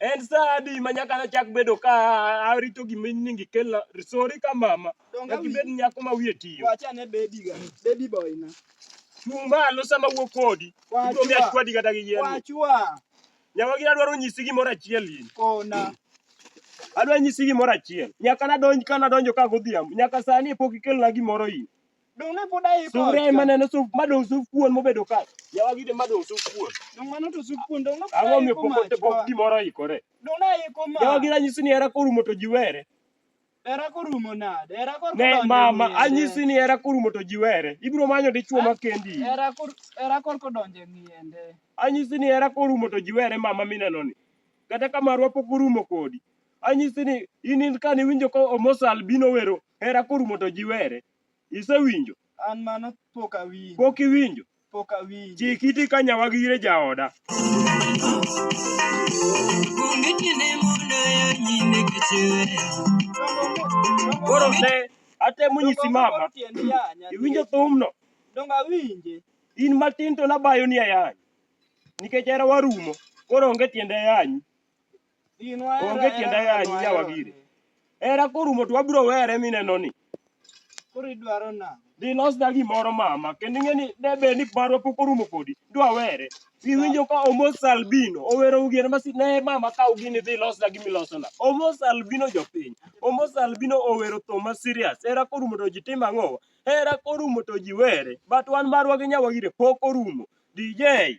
En sa adi ma nyaka nachak bedo ka arito gima ni gikelna? Sori ka mama. Donga Nyaka ibed nyako ma wiye tiyo. Wacha ne baby ga. Baby boy na. Chung' malo sama wuo kodi. Wachwa. Ibiro miya chwadi kata gi yien. Wachwa. Nyawagi adwaro nyisi gimoro achiel in. Kona. Adwa nyisi gimoro achiel. Nyaka nadonj ka nadonjo ka godhiambo. Nyaka sani pok ikelna gimoro in. Dong ne pod aiko. Sufria ema neno sup madong sup kuon mobedo ka. Yawa gide madong sup kuon. Dong mano to sup kuon dong ne pod Ang'o mi aiko pok mach. ote- pok gimoro ikore? Dong ne aiko mach. Yawa gide anyisi ni hera korumo to ji were. Hera korumo nade? Hera kor Ne kodonjo mama e ng'eye. anyisi ni hera korumo to ji were. Ibiro manyo dichwo ma kendi. Hera kor hera kor kodonjo e ng'iyende. Anyisi ni hera korumo to ji were mama mineno ni. Kata ka marwa pok orumo kodi. Anyisi ni in in kane iwinjo ka Omos Albino wero hera korumo to ji were. Isewinjo? An mano pok awinjo. Pok iwinjo? Pok awinjo. Chik iti ka nyawagi ire jaoda. Onge tiende mondo weyo nyime kichiweya. Koro ne atemo nyisi mama. Iwinjo thumno? Donge awinje. In matin to nabayo ni ayany. Nikech hera warumo. Koro onge tiende ayanyi. Onge tiende yanyi ya wagire. Era korumo to wabiro were mineno ni. Koro idwaro na. Dilosna gimoro mama, kendo ing'e ni debed ni marwa pok orumo kodi, dwa were. Iwinjo ka Omos Albino owero ugier masi ne mama kaw gini dhi losna gimi losona. Omos Albino jopiny. Omos Albino owero thum ma serious. Era korumo to ji tim ang'o? Era korumo to ji were. But wan marwa gi nyawagire pok orumo. DJ